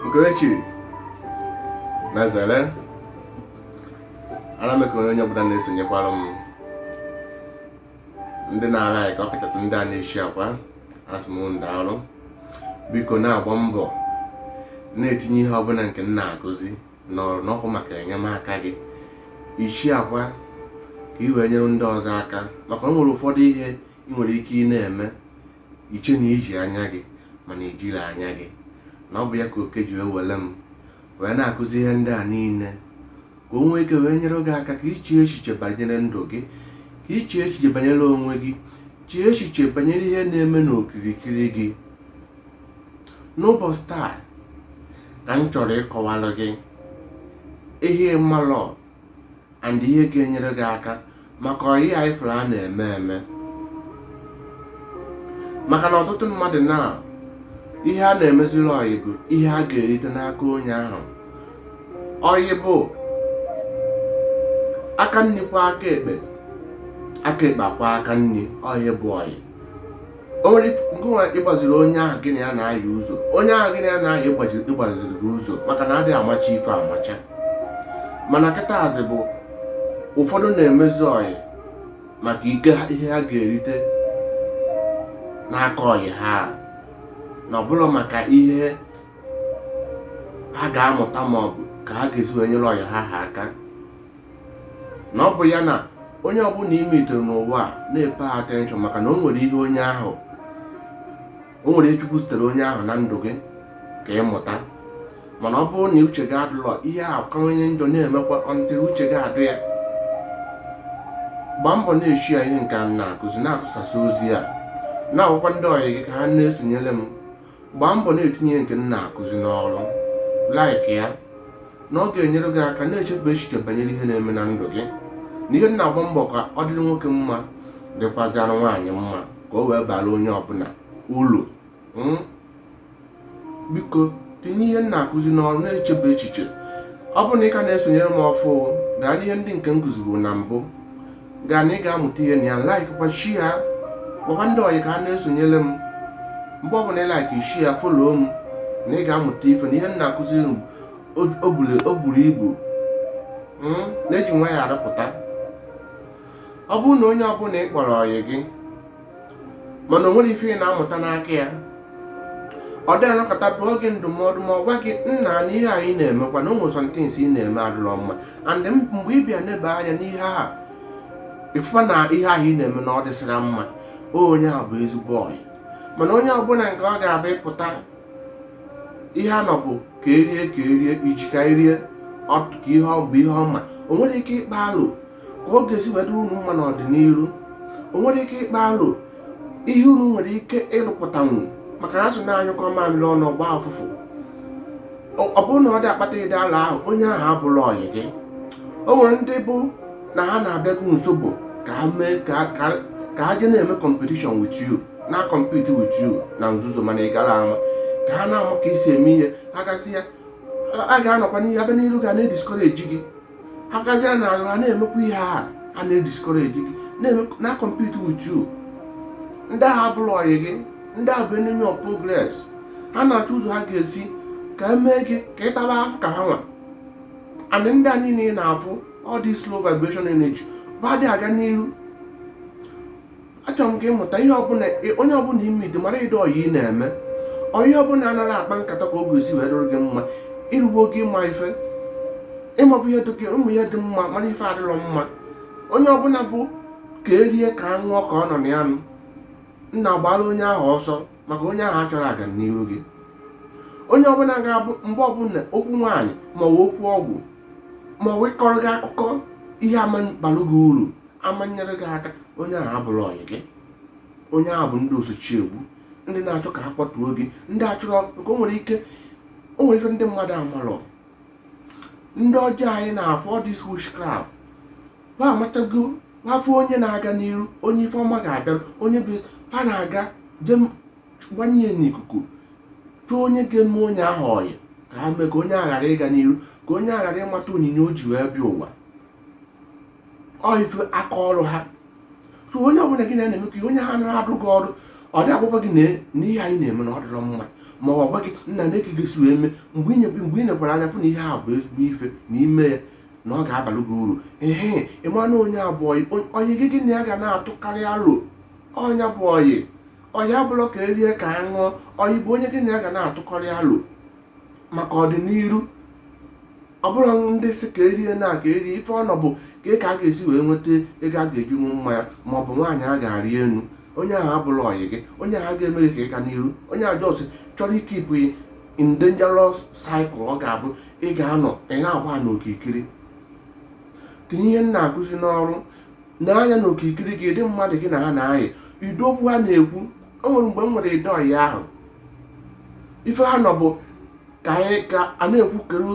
Okerechi na Zere ana m ekele onye ọbụla na-esonyekwara m ndị na-alike ọ kachasị ndị a na-esharekwa asị m unu daalụ biko na-agba mbọ na-etinye ihe ọbụla nke m na-akụzi n'ọrụ na ọ bụ maka enyemaka gị ị sharekwa ka ị wee nyere ndị ọzọ aka maka o nwere ụfọdụ ihe ị nwere ike ị na-eme i chee na i ji anya gị mana i jilọ anya gị na ọ bụ ya ka oke ji wee were m wee na-akụzi ihe ndị a niile ka o nwee ike wee nyere gị aka ka i chee echiche banyere ndụ gị ka i chee echiche banyere onwe gị chee echiche banyere ihe na-eme n'okirikiri gị n'ụbọchị taa ka m chọrọ ịkọwara gị ihe ị malọ and ihe ga-enyere gị aka maka ọyị a ị fụrụ a na-eme eme maka na ọtụtụ mmadụ na ihe a na-emeziri ọyị bụ ihe a ga-erite n'aka onye ahụ ọyị bụ aka nni kwọọ aka ekpe aka ekpe akwọọ aka nni ọyị bụ ọyị o nwere ngịnwa ịgbaziri onye ahụ gị na ya na-ayị ụzọ onye ahụ gị na ya na-ayị ịgbaziri gị ụzọ maka na adịghị amacha ife amacha mana kịtazị bụ ụfọdụ na-emezi ọyị maka ike ihe ha ga-erite n'aka ọyị ha na ọ bụlọ maka ihe ha ga-amụta ma ọ bụ ka ha ga-esi wee nyere ọyị ha ha aka na ọ bụ ya na onye ọbụla ị meetiri n'ụwa a na-epay attention maka na o nwere ihe onye ahụ o nwere ihe chukwu zitere onye ahụ na ndụ gị ka ị mụta mana ọ bụrụ na uche gị adịlọ ihe a kawanye njọ na-emekwa until uche gị adụ ya gbaa mbọ na-eshare ihe nke m na-akụzi na-atụsasị ozi a na-agwakwa ndị ọyị gị ka ha na-esonyere m gbaa mbọ na-etinye ihe nke m na-akụzi n'ọrụ like ya na ọ ga-enyere gị aka na-echebe echiche banyere ihe na-eme na ndụ gị na ihe na-agba mbọ ka ọ dịrị nwoke mma dịkwazịrị nwaanyị mma ka o wee bara onye ọbụla uru hmm? biko tinye ihe m na-akụzi n'ọrụ na-echebe echiche ọ bụrụ na ị ka na-esonyere m ọfụụ gaa n'ihe ndị nke m kụzibụ na mbụ gaa na ị ga-amụta ihe na ya likekwa share gwakwa ndị ọyị ka ha na-esonyere m mgbe ọbụla ị like share follow m na ị ga-amụta ife na ihe m na-akụzi o buru- o buru ibu m na-eji nwayọọ arụpụta ọ bụrụ na onye ọbụla ị kpọrọ ọyị gị mana o nwere ife ị na-amụta n'aka ya ọ dị anọkata dụọ gị ndụmọdụ ma ọ gwa gị nna na ihe ahụ ị na-emekwa na o nwere somethings ị na-eme adịrọ mma and mgbe ị bịa neba anya n'ihe a ịfụkwa na ihe ahụ ị na-eme na ọ dịsịra mma onye a bụ ezigbo ọyị mana onye ọbụla nke ọ ga-abụ ịpụta ihe a nọ bụ ka erie ka erie iji ka erie ka ihe ọ bụ ihe ọma o nwere ike ịkpa alo ka ọ ga-esi wee dịrị unu mma n'ọdịnihu o nwere ike ịkpa aro ihe unu nwere ike ịrụpụtanwu maka na asị na anyụkọ mamịrị ọnụ ọ gbaa ụfụfụ Ọ- ọ bụrụ na ọ dị akpata ụdị alo ahụ onye ahụ abụrụ ọyị gị o nwere ndị bụ na ha na-abịa gị nso bụ ka ha mee ka ka- ka ha je na-eme competition with you na compete with you na nzuzo mana ị gara ama ka ha na-ama ka isi eme ihe ha gasị ya a ga-anọkwa n'ihe a bịa n'iru gị na-ediscourage gị ha gazie n'azụ ha na-emekwa ihe a ha na-ediscourage gị na compete with you ndị ahụ abụrọ ọyị gị ndị a bụ enemy of progress ha na-achọ ụzọ ha ga-esi ka emee gị ka ị taba afụfụ ka ha nwa and ndị a niile ị na-afụ all these low vibration energy ba dị aga n'iru achọrọ m ka ịmụta ihe ọbụla onye ọbụla ime ide mara ụdị ọyị ị na-eme ọyị ọbụla anaghị akpa nkata ka ọ ga-esi wee dịrị gị mma ịrụgbo gị ịma ife ịmabụ ihe dị ụmụ ihe dị mma mara ife adịrọ mma onye ọbụla bụ ka erie ka a ṅụọ ka ọ nọ na ya nụ nna gbara onye ahụ ọsọ maka onye ahụ achọrọ ọganiru gị onye ọbụla ga-abụ mgbe ọbụla okwu nwaanyị maọbụ okwu ọgwụ maọbụ ịkọrọ gị akụkọ ihe ama abara gị uru ama enyere gị aka onye ahụ abụrọ ọyị gị onye ahụ bụ ndị osochi egbu ndị na-achọ ka ha kwatuo gị ndị achọrọ nke o nwere ike o nwere ife ndị mmadụ amarọ ndị ọjọọ anyị na-afụ all this witchcraft ha amatago ha fụ onye na-aga n'iru onye ife ọma ga-abịa onye bụ ha na-aga je gbanye n'ikuku chọọ onye ga-eme onye ahụ ọyị ka ha mee ka onye ahụ ghara ịga n'iru ka onye ahụ ghara ịmata onyinye o ji wee bịa ụwa ọ ife aka ọrụ ha so onye ọbụla gị na-emekọ onye ahụ nara adụ gị ọdụ ọ dị agwakwa gị na ihe ahụ ị na-eme na ọ dịrọ mma ma ọ gwa gị nna ne ka ị ga-esi wee mee mgbe inyekwe mgbe ị nekwara anya fụ na ihe a bụ ezigbo ife na ime ya na ọ ga-abalụ gị uru ehe ịmanụ onye a bụ onye gị gị na ya ga na-atụkarị alo onye a bụ ọyị ọyị abụlọ ka erie ka a ṅụọ ọyị bụ onye gị na ya ga na-atụkarị alo maka ọdịnihu ọ bụrụ ndị sị ka e rie na ka e rie ife ọ nọ bụ ka ka a ga-esi wee nweta ego a ga-eji ṅụ mmanya ma ọ bụ nwaanyị a ga-arị enu onye ahụ abụrọ ọyị gị onye ahụ ga-eme gị ka ị ga n'iru onye ahụ just chọrọ ikeep gị in dangerous cycle ọ ga-abụ ị ga-anọ ị na-agba n'okirikiri tinye ihe m na-akụzi n'ọrụ nee anya na okirikiri gị ụdị mmadụ gị na ha na-ayị ụdị okwu ha na-ekwu o nwere mgbe m nwere ụdị ọyị ahụ ife ha nọ bụ ka anyị ka a na-ekwu kedu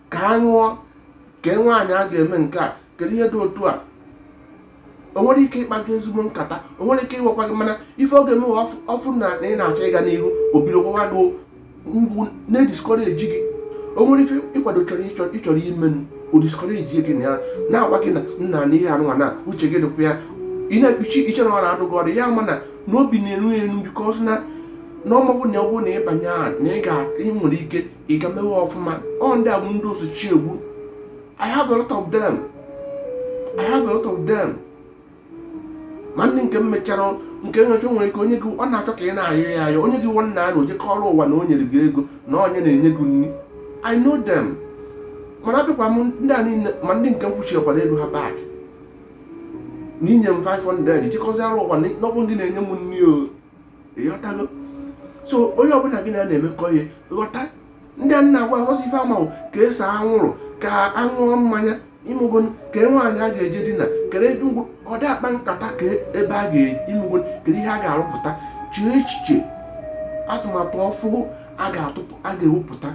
ka a ṅụọ kee nwaanyị a ga-eme nke a kedu ihe dị otu a o nwere ike ịkpa gị ezigbo nkata o nwere ike ịgwakwa gị mana ife ọ ga-eme ọ fụ na ị na-achọ ịga n'ihu o bido gwawa gị mgbu na-ediscourage gị o nwere ife ị kwado chọrọ ị chọrọ ime o discourage gị na ya na-agwa gị na nna na ihe anụnwa na uche gị dịkwa ya ị na-ekpuchi i che na ọ na-adụ gị ọdụ ya mana n'obi na-eru ya elu because na ọ ma ọ bụ na ọ bụ na ị banye ya na ị ga-enwere ike ịga mewe ọfụma ọ ndị a bụ ndị o so chi egbu I have a lot of them I have a lot of them ma ndị nke m mechara nke nyocha nwere ike o nye gị ọ na-achọ ka ị na-ayọ ya ayọ o nye gị nwa nna ahụ o je kọọrụ ụwa na o nyere gị ego na ọ ya na-enye gị nri I know them mana abịakwa m ndị a niile ma ndị nke m kwụchiekwara ego ha back na i nye m 500 jee kọziarụ ụwa na ọ bụ gị na-enye m nri o ị ghọtago so onye ọbụla gị na ya na-emekọ ihe ghọta ndị a na-agwa gị ọ sọ ife ọ ma bụ ka e see anwụrụ ka a ṅụọ mmanya ị mago kee nwaanyị a ga-eje dinaa kere ebe ugwu ọ dị akpa nkata kee ebe a ga- ị mago kere ihe a ga-arụpụta chee echiche atụmatụ ọfụụ a ga-ewepụta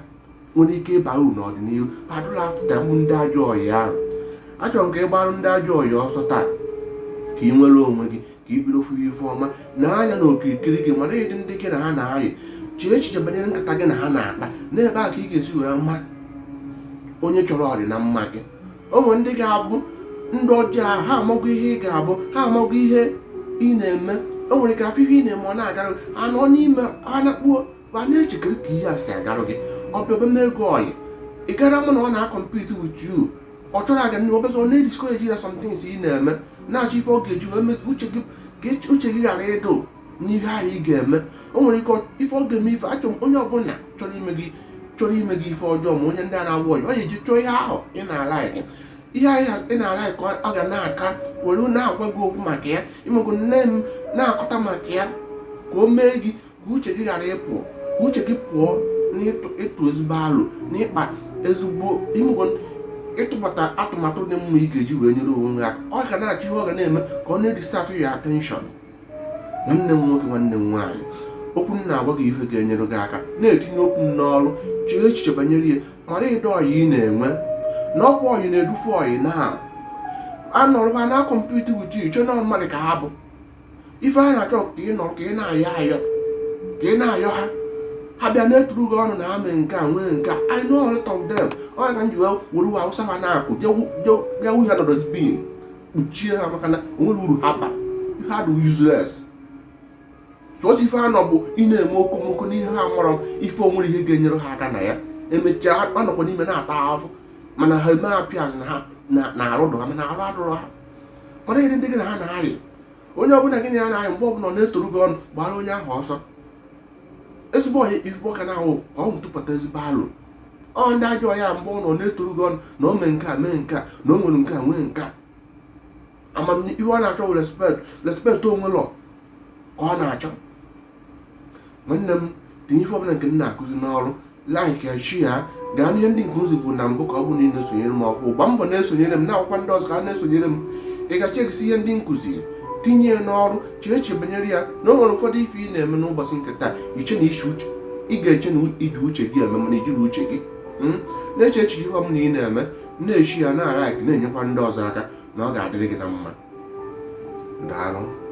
nwere ike ịba uru n'ọdịnihu adụla afụta mgbu ndị ajọ ọyị ahụ achọrọ m ka ị gbarụ ndị ajọ ọyị ọsọ taa ka ị nwere onwe gị ka ị bido fụwa ife ọma nee anya na okirikiri gị mara ụdị ndị gị na ha na-ayị chee echiche banyere nkata gị na ha na-akpa n'ebe a ka ị ga-esi wee ma onye chọrọ ọrị na mma gị o nwere ndị ga-abụ ndị ọjọọ ahụ ha amagwo ihe ị ga-abụ ha amagwo ihe ị na-eme o nwere ike ha fụ ihe ị na-eme ọ na-agara ha nọ n'ime ha na-akpuo ma na-eche kere ka ihe a si agarụ gị ọ bịaba n'ego ọyị ị gara mụ na ọ na-acompete with you ọ chọrọ aga n'ihu ọ bịazi ọ na-ediscourage ya some things ị na-eme na-achọ ife ọ ga-eji wee mee ka uche gị ka echi- uche gị ghara ịdụ n'ihe ahụ ị ga-eme o nwere ike ọ- ife ọ ga-eme ife achọ m onye ọbụla chọrọ ime gị chọrọ ime gị ife ọjọọ ma onye ndị a na-agwa ọyị ọ ga-eji chọọ ihe ahụ ị na-alike ihe ahụ ị na- ị na-alike ọ ga na-aka were na-agwa gị okwu maka ya ị mago nne m na-akọta maka ya ka o mee gị ka uche gị ghara ịpụ ka uche gị pụọ n'ịtụ ezigbo alo n'ịkpa ezigbo ime ego ịtụbata atụmatụ dị mma ị ga-eji wee nyere onwe ya ọ ga na-achọ ihe ọ ga na-eme ka ọ na-edistract ya attention nwanne m nwoke nwanne m nwaanyị okwu m na-agwa gị ife ga-enyere gị aka na-etinye okwu m n'ọrụ chee echiche banyere ihe mara ụdị ọyị ị na-enwe na ọ kwa ọyị na-edufe ọyị na ha nọrọ ebe a na-acompete with ị chee na mmadụ ka ha bụ ife ha na-achọ ka ị nọrọ ka ị na-ayọ ayọ ka ị na-ayọ ha ha bịa na-eturu gị ọnụ na ha mee nke a nwee nke a I know a lot of them onye ka m ji wee were uwe awụsa ha na-akụ jee wụọ ha na dustbin kpuchie ha maka na o nwerọ uru ha bara ha dị useless sọsọ ife ha nọ bụ ị na-eme okomoko n'ihe ha mụrụ ife o nwerọ ihe ga-enyere ha aka na ya emechaa ha nọkwa n'ime na-ata ahụhụ mana ha eme appears na ha na arụ dụ ha mana arụ adụrọ ha mara ihe ndị gị na ha na-ayị onye ọbụla gị na ya na-ayị mgbe ọbụla ọ na-etoru gị ọnụ gbara onye ahụ ọsọ ezigbo ọyị ife ife ọ ka na-achọ ka ọ tụpụta ezigbo alo ọ ndị ajọ ọyị mgbe ọ nọ na-etoru gị ọnụ na o mee nke a mee nke a na o nwere nke a nwee nke a ama ife ọ na-achọ bụ respect respect onwe lọ ka ọ na-achọ nwanne m tinye ife ọbụla nke m na-akụzi n'ọrụ like ya share ya gaa n'ihe ndị nke m zipụrụ na mbụ ka ọ bụ na ị na-esonyere m ọfụ gba mbọ na-esonyere m na-akpọkwa ndị ọzọ ka ha na-esonyere m ị gecha egesi ihe ndị m kụziri tinye ya n'ọrụ chee echiche banyere ya na o nwere ụfọdụ ife ị na-eme n'ụbọchị nke taa ị chee na iche uche ị ga-eche na i ji uche gị eme mana i jirọ uche gị hmm? na-eche echiche ihe ọbụla ị na-eme na-eshare ya na-alike ya na-enyekwa ndị ọzọ aka na ọ ga-adịrị gị na mma daalụ